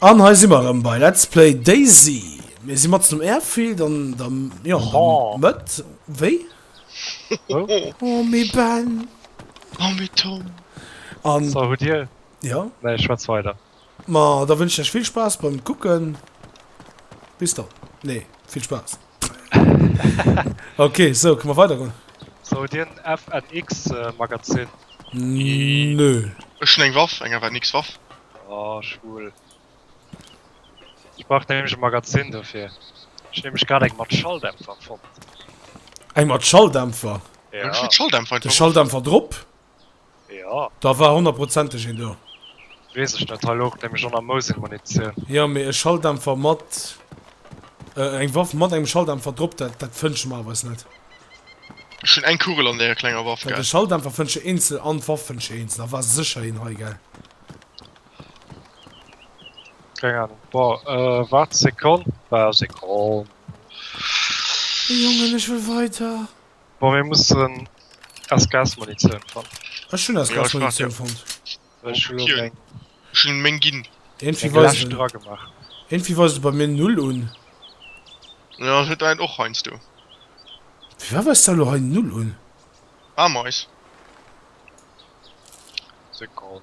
An hei si mer erëm bei Let's Play Daisy. Mir si matzen um Airfield an der jo, oh. Mëtt. Wéi? Oh. oh mé Ben. Oh mé Tom. An so, huet Dir? Ja. Nee, schwätz weider. Ma da wënschen ech lech vill Spaass beim kucken. Bis dann. Nee, vill Spaass. Ok, sou kënne mer weidergoen. Sou dien FNX Magazin. Nö. Ech hun eng Waff, eng FNX Waff. Oh schwul. Ech brauch nämlech e Magazin dofir. Ech hun nämlech grad eng mat Schalldämpfer fonnt. Eng mat Schalldämpfer? Jo. Ech hun Schalldämpfer einfach. Den Schalldämpfer drop? Jo. Da war honnerprozenteg een do. Wees ech net, hei louch nämlech och nach Mosin-Munitioun. Jo, mee e Schalldämpfer mat. Eng Waff mat engem Schalldämpfer drop, dat, dat fënschen mer awer eis net. Ech hunn eng Kugel an deeër klenger Waff, gell. De Schalldämpfer fënschen ech eenzel an d'Waff fënschen ech eenzel. Da war sécher een hei, gell. Keng Ahnung. Bon, waart Sekonn. Sekonn. Jongen, ech wëll weiter. Bon mir mussen aus Gas Munitioun fannen. Ech hunn aus Gas Munitioun fonnt. Ech hunn elo meng. Ech hunn meng ginn. Eng lescht dra gemaach. Iergendwéi weist e bei mir null un. Jo et huet ein och heiansdo. Firwat weist da elo hei null un? Ameis. Sekonn.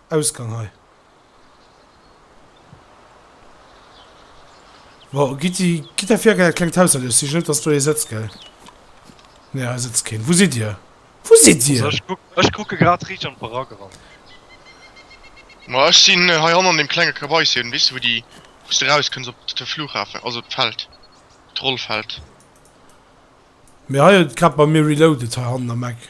Ausgang hei. Bon, Gitti, gitt der vir, gell? Et klengt hausherrlech. Sich net, dass do ee sëtzt, gell? Nee, hei sëtzt keen. Wou sidd Dir? Wou sidd Dir? Also, ech kuck, ech kucke grad riicht an d'Barack eran. Ma ech sinn hei hannen an deem klenge Kabäischen, weess de, wou déi, wou s de rauskënns op de Flughafen, also op d'Feld, d'Rollfeld. Mee hei huet grad bei mir reloaded, hei hannen am Eck.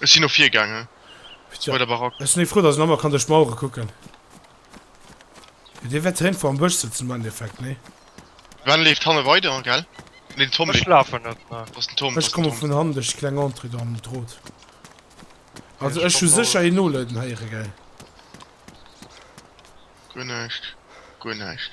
Ech sin no vir gaange bei der Barack. Ech sin frou dass een emmer kann duerch d'Mauere kucken. Dir wärt hénfo am Bësch sëtzen am Endeffekt, nee? Sven leeft hanne weider, gell? Nee den Tom leeft. Ech lafen net, ne. Ech komme vun hannen duerch déi kleng Entrée do am Drot. Also ech hu sécher een noleiden héiere, gell? Guer näischt, guer näischt.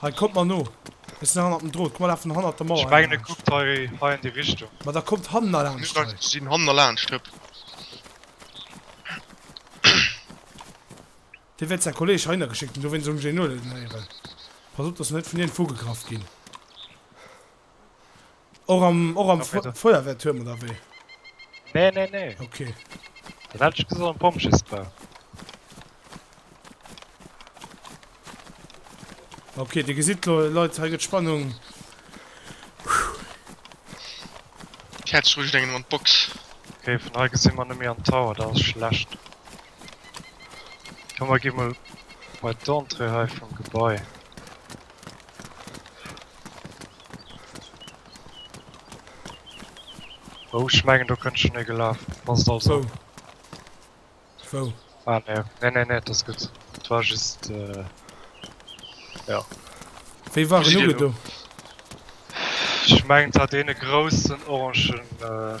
Hei, kommt mer no! Ech sinn hannert dem Drot. Komm, mer lafen hannert der Mauer hei laanscht. Ma da kommt hanner laanscht hei. Ech sinn hanner laanscht, hëpp. Deen huet säi Kolleg heihinner geschéckt, deen do wéinst ëm Génoule den héieren. Pass op, dass mer net vun hien vu gegraff ginn. Och am, och am Fe Feuerwehrturm oder wéi? Nee, nee, nee. Okay. Dat hat ech gesot am Pompjeesbau. Okay, Dir gesitt lo, Leit, hei gëtt Spannung. Ech hätt sech wënscht, engem an d'Box. Okay, vun hei gesi mer net méi an d'Tower, dat ass schlecht. Komm, mer gi mol bei d'Entrée hei vum Gebai. Oh ech mengen do kënnt schon ee gelaf, ass et also. Wou? Wou? Ah ne, ne ne ne, et ass gutt. Et war just euh, ja. Wéi war en ugedo? Ech mengen et hat een e groussen orangen euh,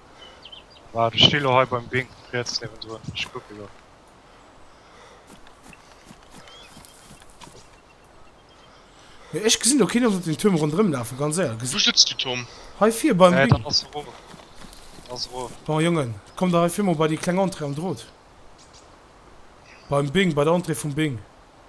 Waart, ech sti lo hei beim Ding, riets niewendrun. Ech kucke lo. Mee ech gesinn do keen op den Tuerm ronderëm lafen, ganz éierlech. Wou sëtzt du, Tom? Hei vir beim Ding. Nee, dat ass erof. Dat ass erof. Bon, Jongen, kommt der hei vir mol bei déi kleng Entrée am Drot. Beim Bing, bei der Entrée vum Bing.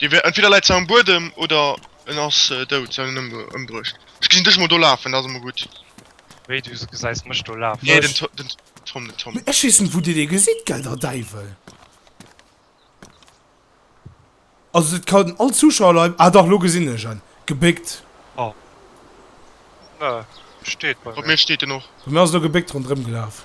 Dee wär entweder läit se am Buedem oder en ass dout, se hunn en ëmbruecht. Ech gesinn dech emol do lafen, dat ass emol gutt. Wéi, du gesäis mech do lafen? Nee, den Tom, den Tom. Ech weess net, wou Dir dee gesitt, gell, der Däiwel! Also, dat kann all Zuschauer lei. Ah, dach, elo gesinn ech en. Gebéckt. Oh. Nö, steet bei mir. Bei mir steet en och. Bei mir ass elo gebéckt ronderëmgelaf.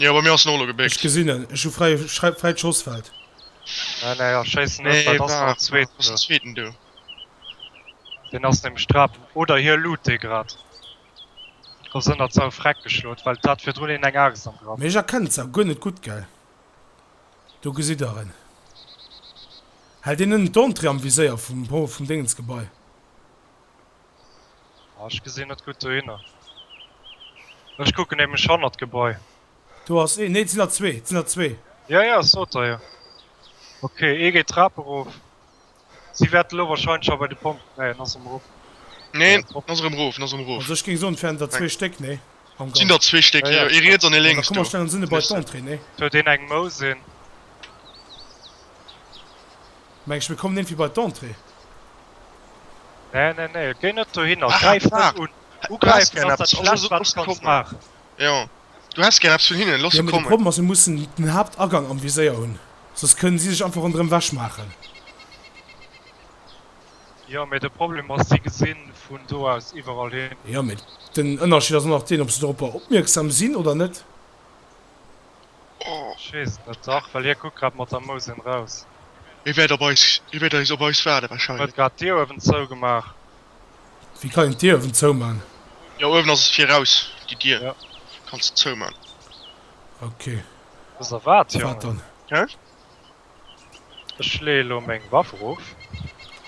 Jo bei mir ass en olo gebéckt. Ech gesin en, ech hu fräit Schossfeld. Nee nee ech schéissen net bei, et ass nach en zweeten do. Ass en zweeten do? Deen ass nämlech drap, oder hie loot dee grad. Ass ënnert sou Freck geschlot, well d'hat virdrun een eng Axt am Grapp. Ech erkennen se guer net gudd gell. Do gesitt der en. Hält een nënnen d'Entrée am Viséier vum Dingens Gebai? Ech gesinn net gutt dohinner. Ech kucken nämlech hannert d'Gebai. Do ass een. Nee, et sinn der zwee. Et sinn der zwee. Jo, jo, ech sot der jo. Ok, ee geet d'Trap erof. Si wäerten elo warscheinlech scho bei de Pompel. Nee, en ass erëm erop. Nee, en ass erëm erof. En ass erëm erof. Also, ech géing soen, et wären der zwee Stéck, nee? Am Ganzen. Et sinn der zwee Stéck, jo, jo. Ee riets an ee lénks do. Da komm, mer stellen ons hinne bei d'Entrée, nee? Huet een eng Mouss, een? Mengs mir kommen iergdwéi bei d'Entrée? Nee, nee, nee, géi net dohinner, gräif net un. Ugräifen ass dat schlescht wat s kanns maachen. Jo, du häss gär eppes vun hinnen, loss se kommen. Jo, mee de Problem ass, mir mussen den Haaptagang am Viséier hunn, soss kënnen si sech einfach ronderëm wech maachen. Jo, mee de Problem ass, si gesi vun do aus iwwerall hin. Jo, mee den Ënnerscheed ass och nach deen, ob se doropper opmierksam sinn oder net. Ech weess et net. Dach, well hie kuckt grad mat der Mouss een raus. Hie wäert op eis, hie wäert eis, op eis waarde wahrscheinlech. Huet grad d'Dier uewen zougemaach. Wéi kann een d'Dier uewen zouman? Jo, uewen ass et fir raus, déi Dier. Jo. Kanns de zouman. Ok. Dëser waart, Jongen? Wat dann? Hä? Ech leeë elo meng Waff erof.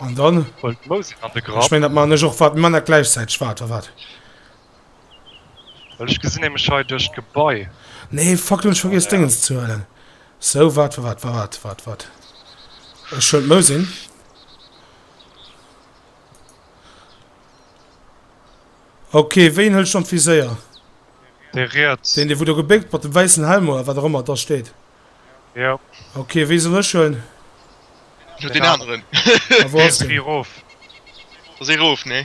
An dann? Huel d'Mouss een an de Grapp. Ech meng, dat maachen ech och. Wat, mir man dat gläichzäiteg? Wat, oder wat? Well ech gesinn nämlech hei duerch d'Gebai. Nee, fuck, do hunn ech vergiess Déngens ze huelen. Sou, wat, wa, wat, wa, wat, wat, wat. Ech huelen d'Mousin. Okay, wéien huel ech dann d'Viséier? Dee riets. Deen, dee wou do gebéckt mat dem wäissen Helm oder wat och ëmmer et da steet. Jo. Okay, wéi soll ech huelen? Deen aneren. A wou ass Dee deen? si rof. Ass ee rof, nee?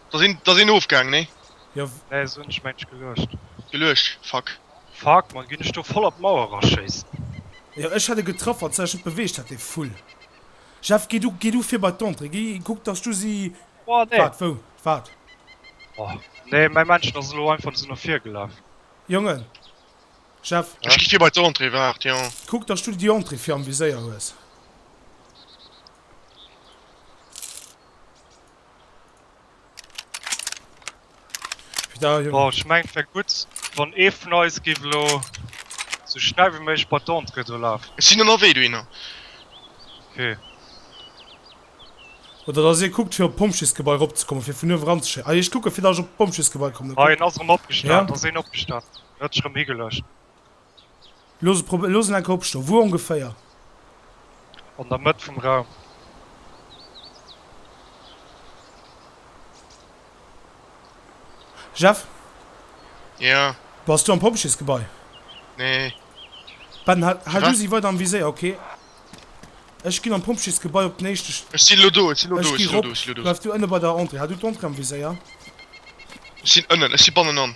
Da sinn da sinn ofgaang nee? Jo w. Nee se hunn dech mengt ech geluecht. Geluecht, fuck. Fuck man, ginn ech do voll an d'Mauer raschéissen? Jo ech hat e getraff, wann se sech net beweegt hätt dee Vull. Jeff gi du gi du vir bei d'Entrée, gi kuck dass du si. Boah nee. Waart wou? Waart. Boah nee, mäi Männchen ass elo einfach sou no vir gelaf. Jongen. Jeff. Ech gi vir bei d'Entrée, waart jo. Kuck dass du déi Entrée vir am Viséier hues. Oh, ich mein, wär gut, wann ee vun eis géif elo sou schnell wéi méiglech bei d'Entrée do lafen. Ech sinn ënnerwee dohinner. Okay. Oder dass ee kuckt, fir op d'Pompjeesgebai eropzekommen, fir vun uewen eranzeschéien. Ah, ech kucke fir dass ech op d'Pompjeesgebai kommen. Ah, een ass erëm opgestan. Ass een opgestan? En huet sech erëm higelegt. Looss en enke opstoen. Wou ongeféier? An der Mëtt vum Raum. Jeff? Jo? Bass du am Pompjeesgebai? Nee. Ben, hal du si weider am Viséier, ok? Ech ginn am Pompjeesgebai op den éischte. Ech si lo do, ech si lo do, ech si lo do, ech si lo do. Bleif du ënne bei der Entrée. Hal du d'Entrée am Viséier. Ech sinn ënnen, ech si bannenan.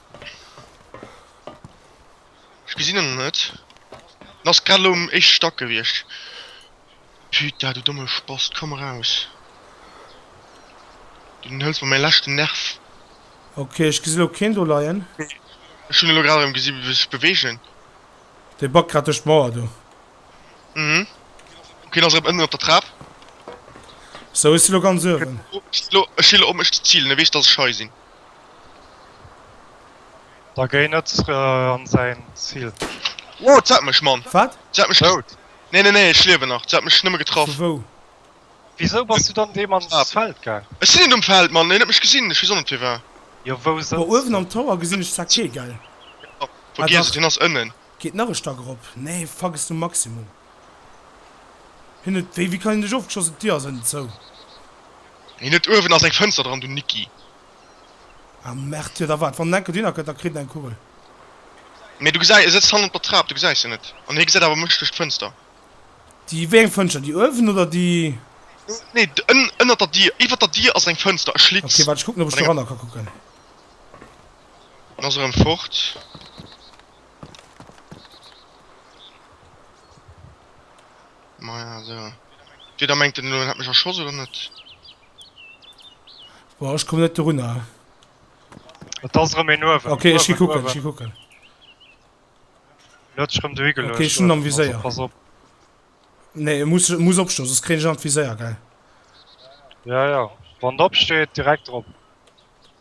Ech gesinn en net. En ass grad elo um éischte Stack gewiescht. Puta, du domme Spast, komm eraus. Du enthëls mer mäi leschten Nerv. Ok, ech gesi elo keen do leien. Ech hunn elo grad erëm gesi wéi sech beweegen. Dee backt grad duerch d'Mauer do. Mhm. Ok, en ass erëm ënnen op der Trap. Sou, ech si elo ganz uewen. Ech si elo um éischte Zil, en weess, dass ech hei sinn. Da géi net an säin Zil. Wow, dat hat mech, Mann! Wat? Dat hat mech dout! Nee, nee, nee, ech liewen nach. Dat hat mech nëmme getraff. Vu wou? Wisou bass du dann deem ans Feld gaang? Ech sinn net um Feld, Mann! Hien huet mech gesinn, ech weess och net fir wat. Jo, wou sëtzt hien? Uewen am Tower gesinn ech zwar kee, gell? Vergiess et, hien ass ënnen. Geet nach e Stack erop. Nee, fuck es du Maximum. Hien huet wéi, wéi kann hien dech ofgeschossen, d'Dir ass ënnen zou. Hien huet uewen ass eng Fënster dran, du Nicki. Ah merde, jo da waart, wann en enker dohinner kënnt da kritt en eng Kugel. Mee du gesäis, e sëtzt hannert der Trap, du gesäis en net. An hie gesäit awer mech duerch d'Fënster. Déi, wéi eng Fënschter, déi uewen oder déi. Nee, ënnert der Dir, iwwer der Dir ass eng Fënster, e Schlitz. Ok, waart ech kucken ob ech doranner ka kucken. En ass erëm fort. Maja, so. Wieder mengt den Lo, hat mech erschoss oder net? Boah, ech komm net dorunner. Et ass erëm een uewen. Okay, ech gi kucken, ech gi kucken. Huet sech erëm dohi geluecht. Okay, ech hunn en am Viséier. Pass op. Nee, e muss, e muss opstoen, soss kréien ech en an d'Viséier, gell? Ja, ja. Wann en opsteet, direkt drop.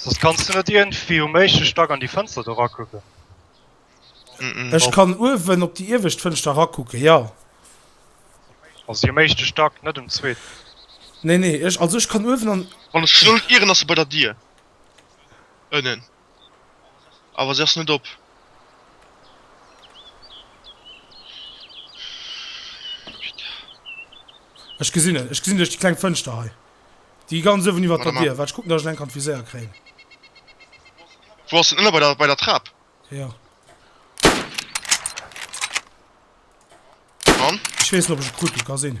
Soss kanns du net ierndwéi um éischte Stack an déi Fënster do rakucken? Ech kann uewen op déi iewescht Fënschter rakucken, jo. Also déi um éischte Stack, net um zweeten? Nee, nee, ech, also ech kann uewen an. Wann ech gesot ieren, ass se bei der Dier ënnen. Awer se ass net op. Ech gesinn et. Ech gesinn duerch déi kleng Fënschter hei. Déi ganz uewen iwwer der Dier. Waart, ech kucken, datt ech en enk an d'Viséier kréien. Wou ass en? Ënner bei der, bei der Trap? Jo. An? Ech weess net, ob ech e kruten ka sinn.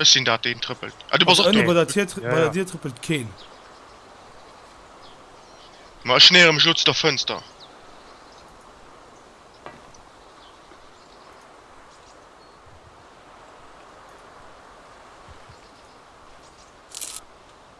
Ech sinn dat deen trëppelt. Ah du bass och do. Bei der Dier trëppelt keen. Ma ech nähere mech elo zu der Fënster.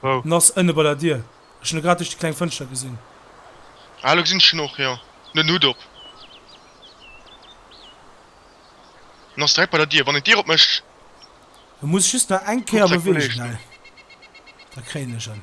Wou? En ass ënne bei der Dier. Ech hunn e grad duerch déi kleng Fënschter gesinn. Ah, elo gesinn ech en och, jo. En huet en Hutt op. En ass direkt bei der Dier, wann een d'Dier opmécht. E muss just nach eng Kéier beweegen hei, da kréien ech en.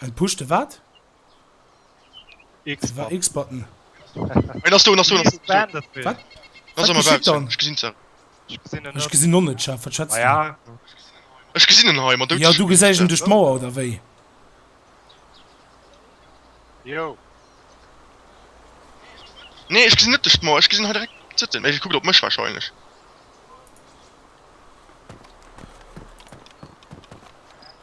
Ein push de wat? X war X button. Ech gesinn no net schaff wat schwätzt Ech gesinn en hei mat du du gesäich en duerch d'Mauer oder wéi? Jo Nee ech gesinn net duerch d'Mauer ech gesinn hei direkt zëtten mee kuckt op mech wahrscheinlech.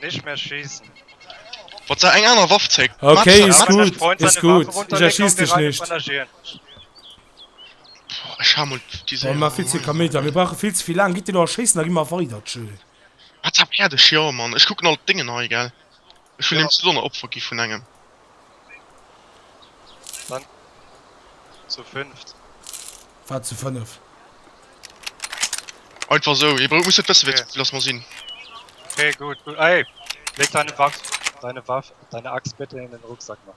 Nicht mehr schießen. Wat sei eng aner Waff zeck. Okay, is gut, is gut. Ech erschiess dech nicht. Ech ha mol déi Séier. Mir maache vill ze vill Kaméidi, mir brauche vill ze vill laang. Gitt Dir elo erschéissen, da gi mer weider, tjö. Wat za Pärdecher, Mann. Ech kucken alt d'Déngen hei, gell. Ech hun eben zu Donner Opfer gi vun engem. Dann zu fünft. War zu fënnef. Einfach esou, hie brou muss net wësse wéi ze vill ass mer sinn. Ok gut gut, ey leg deine Waff, deine Waff, deine Axt bitte in den Rucksack, Mann.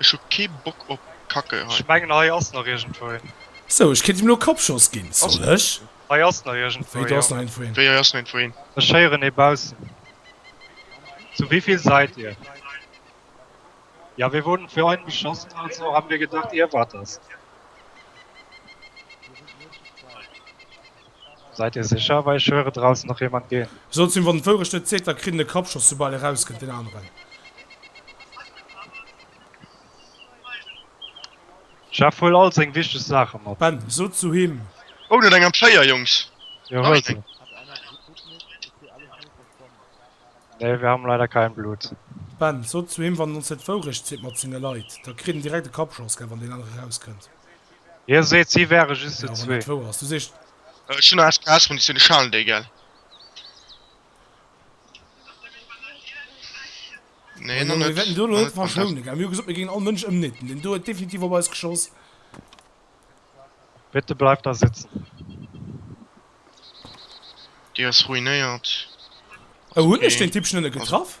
Ech hu kee Bock op Kacke hei. Ech mengen hei ass nach iergendwou een. Sou, ech kéint him elo Kappschoss ginn. Soll ech? Hei ass nach iergendwou een. Wéi, do ass nach iergendwou een? Wéi, hei ass nach iergendwou een? Ech héieren ee baussen. Zu wéivill säit dir? Ja, wir wurden für einen beschossen, also haben wir gedacht, ihr wart das. Seid dir secher? Wei ech höre draussen nach jemand gehen. Soll et sin wann d'Wourecht net zéckt da kritt en e Kappschoss soubal eraus kënnt deen aneren. Chef huel all seng wichteg Saachen mat. Ben, so zu him. Oh net eng am Féier Jungs. Jo huel se. Nee wir haben leider kein Blut. Ben, so zu him, wann en ons net d'Wourecht seet mat senge Leit da kritt en direkt e Kappschoss gell wann deen anere eraus kënnt. Dir seet si wäre just zu zwee. Ech hunn nach HKS Munitioun, ech halen déi gell. Nee nach net. Mir hu gesot mir géingen all Mënsch ëmnieten, deen do huet definitiv op eis geschoss. Bitte bleift da sitzen. Déi ass ruinéiert. Oh huet mech den Typ schnëlle getraff?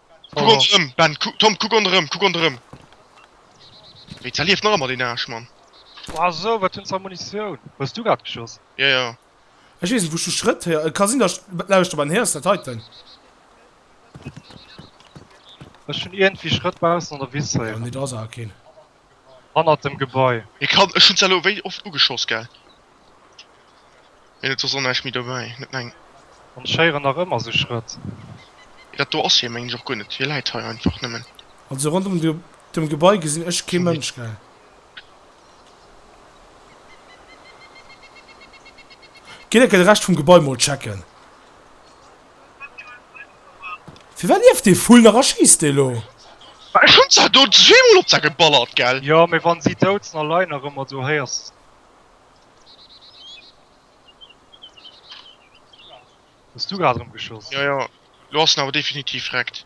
Kuck Oh. ronderëm, Ben, ku Tom, kuck ronderëm, kuck ronderëm. Wéi, zerlieft nach ëmmer deen Aarsch, Mann. Wow, so, wat hues de a Munitioun? Hues du grad geschoss? Jo, jo. Ech weess net, wou ech de Schrëtt héieren. Et ka sinn, datt ech lauschtere beim Här. Ass dat hei den? Ech hunn iergendwéi Schrëtt baussen an der Wiss héieren. Nee, do ass awer keen. Hannert dem Gebai. Hie kann, ech hunn se elo wéi oft ugeschoss, gell? Mee et ass och näischt méi dobäi, net meng. An ech héieren nach ëmmer esou Schrëtt. Mee dat do ass hie, mengen ech och guer net. Hie läit hei einfach nëmmen. Also rondrëm dem Gebai gesinn ech kee Mënsch, gell? Gitt enke de Rescht vum Gebai mol checken. Firwat lieft dee Vull nach a schisst dee lo? Mä ech hunn se do zweemol op der geballert, gell? Jo, mee wann si dout sinn a leien nach ëmmer do, héiers de se net. Hues du grad erëm geschoss? Jo, jo, lo ass en awer definitiv reckt.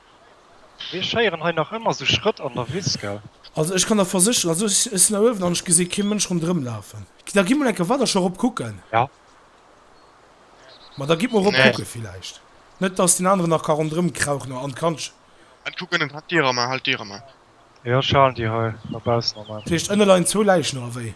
Mir schéieren hei nach ëmmer sou Schrëtt an der Wiss, gell? Also ech kann der versécheren, also ech sinn hei uewen an ech gesinn kee Mënsch rondrëm lafen. Da gi mol enke weider scho rop kucken. Ja. Ma da gitt mol rop kucken villäicht. Net dass deen aneren nach ka rondrëm krauchen an d'Kandche. Ech kucken ënnen, halt d'Dier ermar, halt d'Dier ermar. Jo ech halen d'Dier hei no baussen ermar. Dat heescht ënne leien zwou Läichen oder wéi?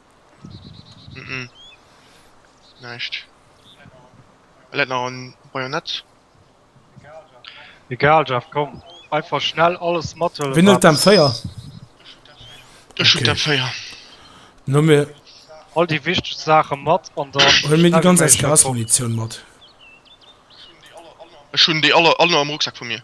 Mhm. Näischt. E läit nach en Bajonett. Egal Jeff, komm. Einfach schnell alles mathëllen. Wien huet d'M4? Ech hunn d'M4. Okay. Dann hu mir. All déi wichteg Saache mat an dann. Huele mir déi ganz SKS-Munitioun mat. Ech hunn déi aller, all am Rucksak vu mir.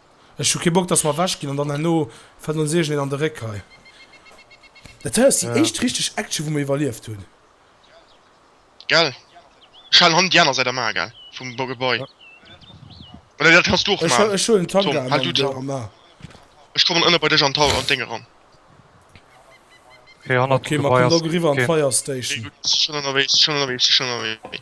Ech hu kee Bock dass mer ewech ginn an dann herno fält ons iergend een an de Réck hei. Dat hei ass déi éischt richteg Action wou mer iwwerlieft hunn. Gell? Schalen han déi aner Säit am A gell? Vum Gebai. Oder dat kanns du och man. Ech huelen Tank A an du am A. Ech kommen ënne bei dech an d'Haus an d'Déng eran. Ok, mat kommt och eriwwer an d'Fire Station. Ok gutt, si schon ënnerwee, si schon ënnerwee, si schon ënnerwee.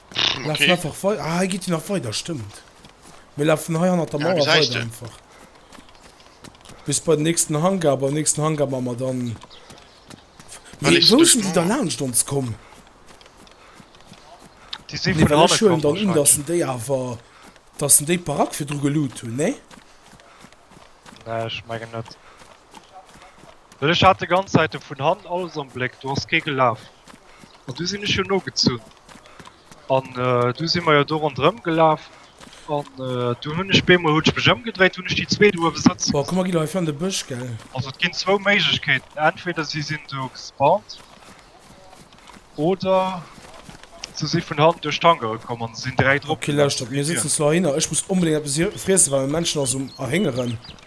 Lafen einfach weider. Ah, hei geet jo nach weider, stëmmt. Mir lafen hei hannert der Mauer weider einfach. Bis bei den nächsten Hangar, beim nächsten Hangar man mer dann... Wéi, wou sinn déi da laanscht ons komm? Déi sinn vun hanne komm wahrscheinlech. Datt en déi awer, datt en déi Barack virdru geloot hunn, nee? Nee, ech mengen net. Well ech hat de ganz Zäit de vun hannen alles am Bléck, do ass kee gelaf. An du sinn ech jo nogezunn. An du si mer jo do ronderëm gelaf an du hunn ech bemol, hunn ech mech ëmgedréit, hunn ech déi zwee do uewe sëtze gesinn. Boah, komm mer ginn hei an de Bësch, gell? Also et ginn zwou Méiglechkeeten, entweder si sinn do gespawnt oder se si vun hannen duerch d'Hank erokomm an sinn dräi drop gelaf. Ok, lauschtert, mir sëtzen zwar heihinner, ech muss onbedéngt eppes friessen, well mäin Männchen ass um Erhéngeren.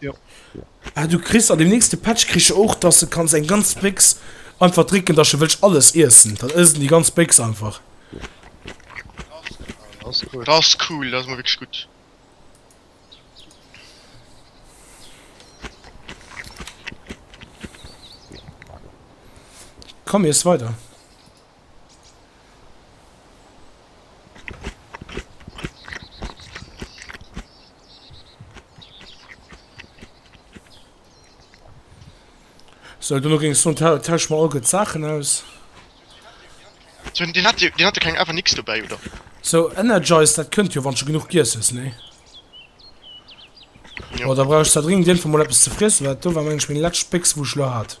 Jo. Ah, du kriegst an dem nächste Patch kriegst du auch, dass du kannst eng ganz Bix einfach trinken, dass du willst alles essen. Dann essen die ganz Bix einfach. Das ist cool. Das ist cool, das ist mal wirklich gut. Komm, jetzt weiter. So, du ging so tausch mal gut Sachen aus. So, den hat den hatte kein einfach nichts dabei oder so energize dat könnt ihr wann schon genug gi ist ne ja. oder brauchst da dringend den von mal etwas zu friessen weil du war mensch mein letzte Pix wo schlo hat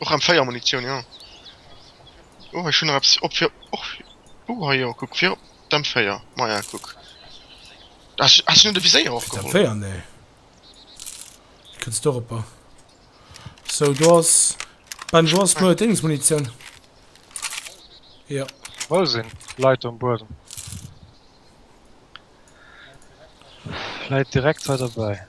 Och am Féier Munitioun, jo. Oh, hei schon nach eppes op fir och. Oh, hei jo, kuck, fir op dem Féier. Maja, kuck. Da ass jo de Viséier och geholl. Féier, nee. Kënns du eropper. So, do ass. Ben, do ass no Dings Munitioun. Jo. Wou sinn Leit um Buedem? Leit direkt hei derbäi.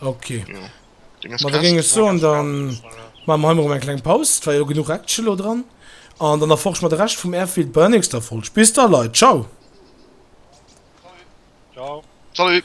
Okay. Jo. Deng ass Ma da krass, géing ech soen, da maache mer hei mol erëm eng kleng Paus. Et war jo genuch Action elo dran. An dann erforsche mer de Rescht vum Airfield bei der nächster Folg. Bis da, Leit. Ciao. Ciao. Salut.